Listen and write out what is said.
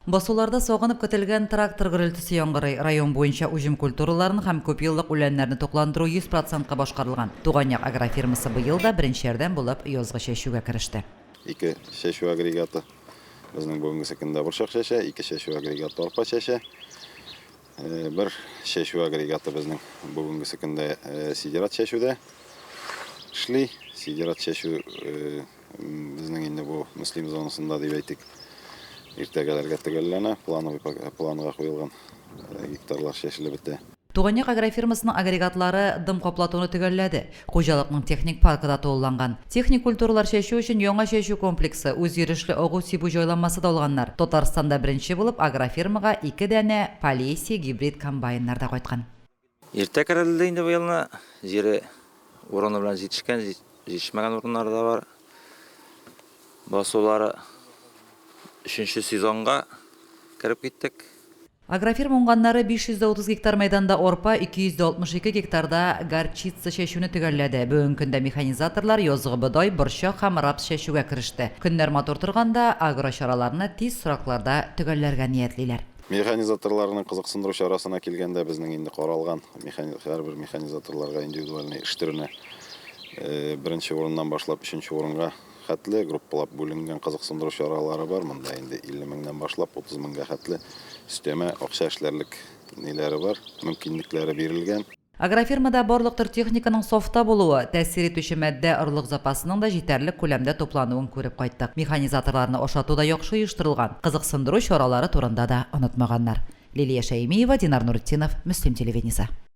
Басуларда сагынып көтелгән трактор гөрелтесе яңгырый. Район буенча уҗым культураларын һәм күпьеллык үләннәрне тукландыру 100 процентка башкарылган. Туган як агрофирмасы быел да беренче ярдәм булып язгы чәчүгә кереште. Ике чәчү агрегаты безнең бүгенге көндә борчак чәчә, ике чәчү агрегаты арпа чәчә. Э, бер чәчү агрегаты безнең бүгенгесе көндә э, сидерат чәчүдә эшли. Сидерат чәчү э, безнең инде бу Мөслим зонасында дип әйтик. Иртәгәләргә төгәлләнә, плановый планга куелган гектарлар чәчелеп бетә. Туганьяк агрофирмасының агрегатлары дым каплатуны төгәлләде. Хуҗалыкның техник паркы да тулыланган. Техник культуралар чәчү өчен яңа чәчү комплексы, үзйөрешле агу-сибү җайланмасы да алганнар. Татарстанда беренче булып агрофирмага ике данә Полесье гибрид комбайннар да кайткан. Иртә кәрәлде инде быел ны. Җире урыны белән җитешкән, җитешмәгән урыннары да бар. Басулары өченче сезонга кереп киттек. Агрофирма уңганнары 530 гектар мәйданда арпа, 262 гектарда горчица чәчүне төгәлләде. Бүгенге көндә механизаторлар язгы бодай, борчак һәм рапс чәчүгә кереште. Көннәр матур торганда, агрочараларны тиз срокларда төгәлләргә ниятлиләр. Механизаторларның кызыксындыру чарасына килгәндә, безнең инде каралган механи һәрбер механизаторларга индивидуальный эш төренә, беренче урыннан башлап өченче урынга хәтле группалап бүленгән кызыксындыру чаралары бар монда инде 50 меңнән башлап 30 меңгә хәтле өстәмә акча эшләрлек ниләре бар, мөмкинлекләре бирелгән. Агрофирмада барлык төр техниканың сафта булуы, тәэсир итүче матдә орлык запасының да җитәрлек күләмдә туплануын күреп кайттык. Механизаторларны ашату да яхшы оештырылган, кызыксындыру чаралары турында да онытмаганнар. Лилия Шәймиева, Динар Нуретдинов, Мөслим телевидениесе.